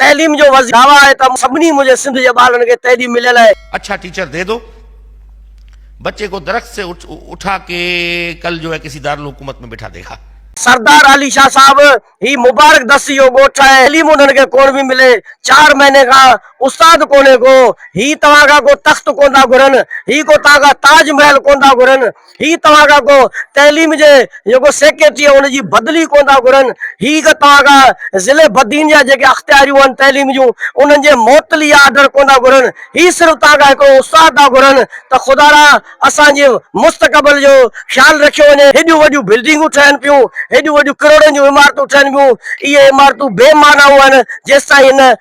تعليم جو وزير دعويٰ آهي ته سڀني منهنجي سنڌ جي ٻارڙن کي تعليم مليل آهي. اڇا ٽيچر دي دو بچي ڪو درخت سي اٺا ڪي ڪل جو هي ڪسي دارالحڪومت ۾ بيٺا ديکا. سردار علي شاھ صاحب هي مبارڪ دستي جو ڳوٺ آهي تعليم انهن کي ڪون پي ملي چار مهيني کان استاد ڪونهي ڪو هي توهان کان ڪو تخت ڪون ٿا گهرن هي ڪو توهان کان تاج محل ڪون ٿا گهرن هي توهان کان ڪو تعليم جي جيڪو سيڪريٽري ان جي بدلي ڪونه ٿا گهرن، هي ڪو توهان کان ضلعي بدين جا جيڪي اختياريون آهن تعليم جون انهن جي معطلي جا آرڊر ڪونه ٿا گهرن، هي صرف توهان کان هڪڙو استاد ٿا گهرن ته خدا را اسان جي مستقبل جو خيال رکيو وڃي، هيڏيون وڏيون بلڊنگون ٺهن پيون، هيڏيون وڏيون ڪروڙن جون عمارتون ٺهن پيون، اهي عمارتون بي معنائون آهن جيستائين هن.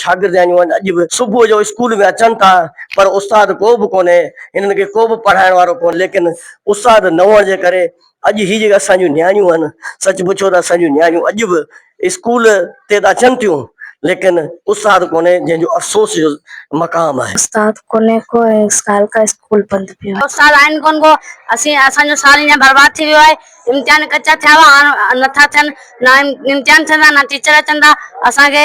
شاگرد يعني هن اڄ به صبح جو اسڪول ۾ اچن ٿا پر استاد ڪو به ڪونهي هنن کي ڪو به پڙهائڻ وارو ڪونهي ليڪن استاد نه هئڻ جي ڪري اڄ هي جيڪي اسان جون نياڻيون آهن سچ پڇو ته اسان جون نياڻيون اڄ به اسڪول تي ته اچن ٿيون ليڪن استاد ڪونهي جنهن جو افسوس جو مقام آهي. استاد ڪونهي ڪو ۽ سال کان اسڪول بند پيو آهي. استاد آهن ڪونهه ڪو اسين اسان جو سال ايئن برباد ٿي ويو آهي امتحان ڪچا ٿيا هئا هاڻ نٿا ٿين نه امتحان ٿيندا نه ٽيچر اچن ٿا اسان کي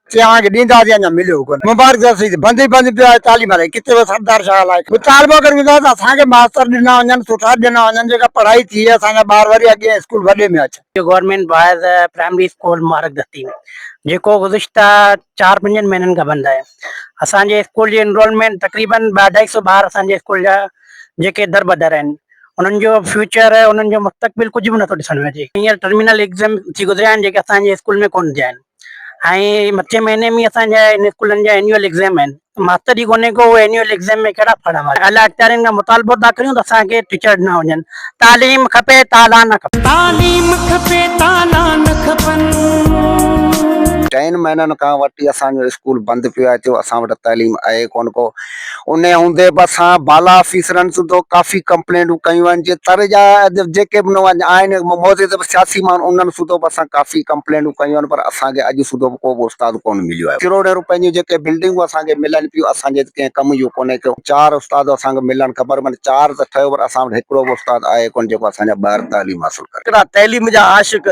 چيائين ته ڏينداسين اڃا مليو ڪونه مبارڪ سر سيد بند ئي بند پيو آهي تعليم الائي ڪٿي وئي سردار شاهه الائي مطالبو ڪريون ٿا ته اسان کي ماستر ڏنا وڃن سٺا ڏنا وڃن جيڪا پڙهائي ٿئي اسان جا ٻار وري اڳئين اسڪول وڏي ۾ اچن. Government boys primary school Mubarak Dasti جيڪو گذشته چار پنجن مهينن کان بند آهي اسان جي اسڪول جي انرولمينٽ تقريبن ٻه اڍائي سو ٻار اسان جي اسڪول جا جيڪي دربدر آهن انهن جو فيوچر انهن جو مستقبل ڪجهه به نٿو ڏسڻ ۾ اچي هينئر ٽرمينل ايگزيم ٿي گذريا آهن جيڪي اسان جي اسڪول ۾ ڪونه ٿيا آهن. ۽ مٿين مهيني ۾ اسان جا هن اسڪولن جا اينيول ايگزام آهن ماستر ئي ڪونهي ڪو اينيول ايگزام ۾ ڪهڙا پڙهڻ وارا اعليٰ اختيارين کان مطالبو ٿا ڪريون ته اسان کي ٽيچر ڏنا وڃن تعليم کپي تالا نه کپن. تعليم کپي تالا نه کپن. ٽئن مهينن کان وٺي اسان جو اسڪول بند پيو آهي ٿيو اسان وٽ تعليم آهي ڪونه ڪو. انهيء هوندي به اسان بالا آفيسرن سوڌو ڪافي ڪمپلينٽون ڪيون آهن، جي تر جا جيڪي به نوجوان آهن معزز سياسي ماڻهو انهن سوڌو به اسان ڪافي ڪمپلينٽون ڪيون آهن پر اسان کي اڄ سوڌو به ڪو به استاد ڪونه مليو آهي. ڪروڙين روپين جون جيڪي بلڊنگون اسان کي ملن پيون اسان جي ڪنهن ڪم جون ڪونهي ڪيون. چار استاد اسان کي ملڻ کپن معنيٰ چار ته ٺهيو پر اسان وٽ هڪڙو به استاد آهي ڪونه جيڪو اسان جا ٻار تعليم حاصل ڪري. هڪڙا تعليم جا عاشق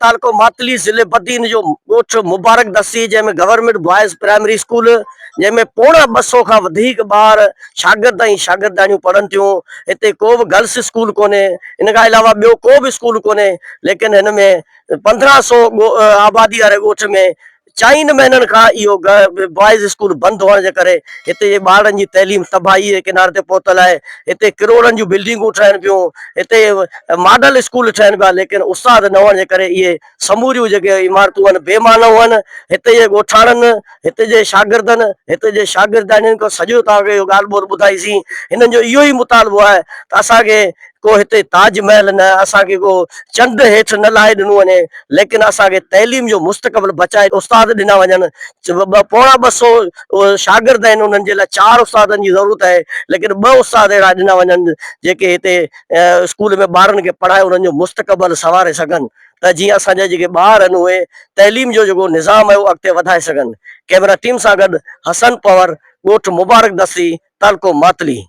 تعلقو ماتلي ضلعي بدين جو ڳوٺ مبارڪ دستي جنهن ۾ گورنمينٽ بوائز پرائمري اسڪول جنهن ۾ پوڻا ٻه سؤ کان وڌيڪ ٻار شاگرد ۽ شاگردياڻيون پڙهن ٿيون هتي ڪو به گرلس اسڪول ڪونهي ان کان علاوه ٻيو ڪو به اسڪول ڪونهي ليڪن هن ۾ پندرهن سؤ آبادي واري ڳوٺ ۾ چئن مهينن کان اهو بوائز اسڪول بند هئڻ جي ڪري هتي جي ٻارڙن جي تعليم تباهيء جي ڪناري تي پهتل آهي. هتي ڪروڙن جون بلڊنگون ٺهن پيون، هتي ماڊل اسڪول ٺهن پيا ليڪن استاد نه هئڻ جي ڪري اهي سموريون جيڪي عمارتون آهن بي معنيٰ آهن. هتي جي ڳوٺاڻن، هتي جي شاگردن، هتي جي شاگردياڻين کان سڄو توهان کي اهو ڳالهه ٻولهه ٻڌائيسين. هنن جو اهو ئي مطالبو آهي ته اسان کي ڪو هتي تاج محل نه، اسان کي ڪو چنڊ هيٺ نه لاهي ڏنو وڃي، ليڪن اسان کي تعليم جو مستقبل بچائي استاد ڏنا وڃن، ٻه پوڻا ٻه سو شاگرد آهن انهن جي لاء چار استادن جي ضرورت آهي، ليڪن ٻه استاد اهڙا ڏنا وڃن جيڪي هتي اسڪول ۾ ٻارن کي پڙهائي انهن جو مستقبل سنواري سگهن ته جيئن اسان جا جيڪي ٻار آهن اهي تعليم جو جيڪو نظام آهي اهو اڳتي وڌائي سگهن، ڪئميرا ٽيم سان گڏ حسن پنور، ڳوٺ مبارڪ دستي، تعلقو ماتلي.